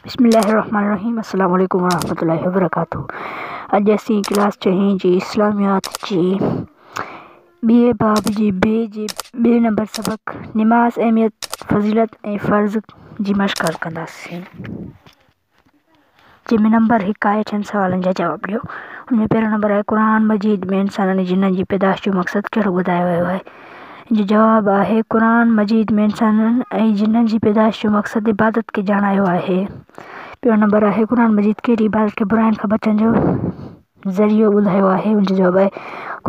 بسم الله الرحمٰن الرحيم السلام عليڪم ورحمة الله وبرڪاته اڄ اسين ڪلاس چئين جي اسلاميات جي ٻئي باب جي بي جي ٻئي نمبر سبق نماز اهميت فضيلت ۽ فرض جي مشق حل ڪنداسين جنهن ۾ نمبر هڪ آهي ڇهن سوالن جا جواب ڏيو. ان ۾ پهريون نمبر آهي قرآن مجيد ۾ انسانن ۽ جنن جي پيدائش جو مقصد ڪهڙو ٻڌايو ويو آهي؟ ان جو جواب آهي قرآن مجيد ۾ انسانن ۽ جنن جي پيدائش جو مقصد عبادت کي ڄاڻايو آهي. ٻيو نمبر آهي قرآن مجيد ڪهڙي عبادت کي براين کان بچڻ جو ذريعو ٻڌايو آهي؟ ان جو جواب آهي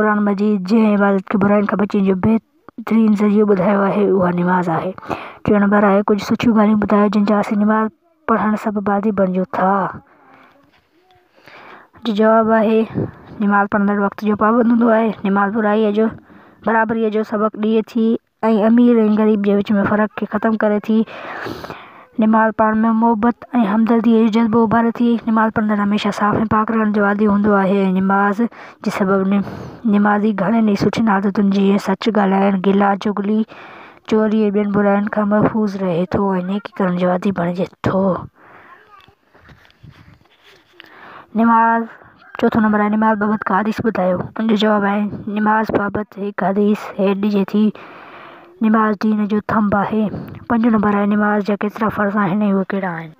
قرآن مجيد جنهن عبادت کي براين کان بچڻ جو بهترين ذريعو ٻڌايو آهي اها نماز آهي. ٽيون نمبر آهي ڪجهه سٺيون ڳالهيون ٻڌايو جن جا اسين نماز پڙهڻ سڀ بعدي بڻجون ٿا. جو جواب آهي، نماز پڙهندڙ وقت جو پابند هوندو آهي. نماز برائيء جو برابريء جو سبق ڏئي ٿي ۽ امير ۽ غريب جي وچ ۾ فرق کي ختم ڪري ٿي. نماز پاڻ ۾ محبت ۽ همدرديء جو جذبو اڀاري ٿي. نماز پڙهندڙ هميشه صاف ۽ پاڪ رهڻ جو عادي هوندو آهي ۽ نماز جي سبب نمازي گهڻين ئي سٺين عادتن جيئن سچ ڳالهائڻ، گلا، چغلي، چوري ۽ ٻين براين کان محفوظ رهي ٿو ۽ نيڪي ڪرڻ جو عادي بڻجي ٿو. نماز، چوٿون نمبر آهي نماز بابت ڪا حديث ٻڌايو. ان جو جواب آهي، نماز بابت هڪ حديث هيٺ ڏجي ٿي، نماز دين جو ٿنڀ آهي. پنجون نمبر آهي نماز جا ڪيترا فرض آهن ۽ اهي ڪهڙا آهن؟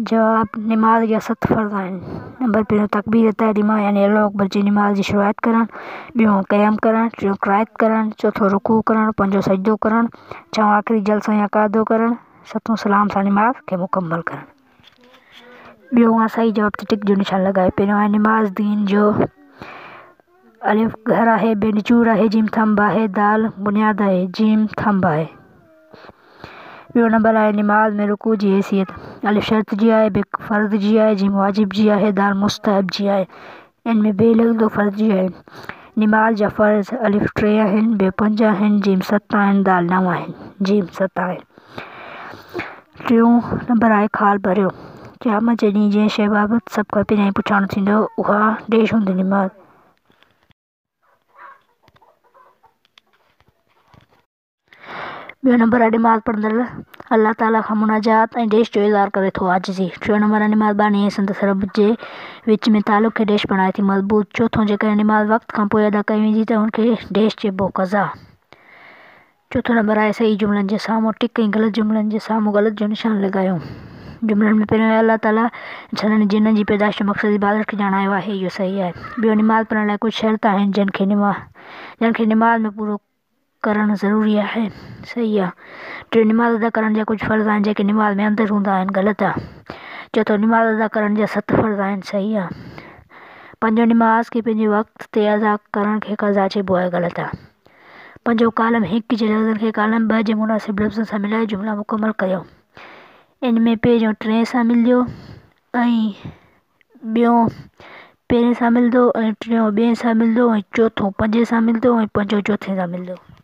جواب، نماز جا ست فرض آهن، نمبر پهريون تڪبير تحريمه يعني الله اڪبر چئي نماز جي شروعات ڪرڻ، ٻيون قيام ڪرڻ، ٽيون قرائت ڪرڻ، چوٿون رڪوع ڪرڻ، پنجون سجدو ڪرڻ، ڇهون آخري جلسو يا قعدو ڪرڻ، ستون سلام سان نماز کي مڪمل ڪرڻ. ٻيون آهي صحيح جواب تي ٽڪ جو نشان لڳائي پهريون آهي نماز دين جو ا، گهر آهي ب، نچوڙ آهي ج، ٿنڀ آهي د، بنياد آهي ج، ٿنڀ آهي ٻيو نمبر آهي نماز ۾ رڪوع جي حيثيت ا، شرط جي آهي ب، فرض جي آهي ج، واجب جي آهي د، مستحب جي آهي ان ۾ ب لڳندو فرض جي آهي نماز جا فرض ا، ٽي آهن ب، پنج آهن ج، ست آهن د، نو آهن ج، ست آهن. ٽيون نمبر آهي خال ڀريو. قيامت جي ڏينهن جي شيء بابت سڀ کان پهريائين پڇاڻو ٿيندو، اها ڏيش هوندي نماز. ٻيو نمبر آهي نماز پڙهندڙ الله تعاليٰ کان مناجات ۽ ڏيش جو اظهار ڪري ٿو، عاجزي. ٽيون نمبر آهي نماز باني ۽ سندس رب جي وچ ۾ تعلق کي ڏيش بڻائي ٿي مضبوط. چوٿون، جيڪڏهن نماز وقت کان پوء ادا ڪئي ويندي ته ان کي ڏيش چئبو، قضا. چوٿون نمبر آهي صحيح جملن جي سامهون ٽڪ ۽ غلط جملن جي سامهون غلط جو نشان لڳايو. جملن ۾ پهريون آهي الله تعاليٰ انسانن ۽ جنن جي پيدائش جو مقصد عبادت کي ڄاڻايو آهي اهو صحيح آهي. ٻيو نماز پڙهڻ لاء ڪجهه شرط آهن جن کي جن کي نماز ۾ پورو ڪرڻ ضروري آهي صحيح آهي. ٽيون نماز ادا ڪرڻ جا ڪجهه فرض آهن جيڪي نماز ۾ اندر هوندا آهن غلط آهي. چوٿون نماز ادا ڪرڻ جا ست فرض آهن صحيح آهي. پنجون نماز کي پنهنجي وقت تي ادا ڪرڻ کي قضا چئبو آهي غلط آهي. پنهنجو ڪالم هڪ جي لفظن کي ڪالم ٻه جي مناسب لفظن سان ملائي جملا مڪمل ڪريو. ان ۾ پهريون ٽين سان ملندو ۽ ٻيون پهرين سان ملندو ۽ ٽيون ٻئين سان ملندو ۽ چوٿون پنجين سان ملندو ۽ پنجون چوٿين سان ملندو.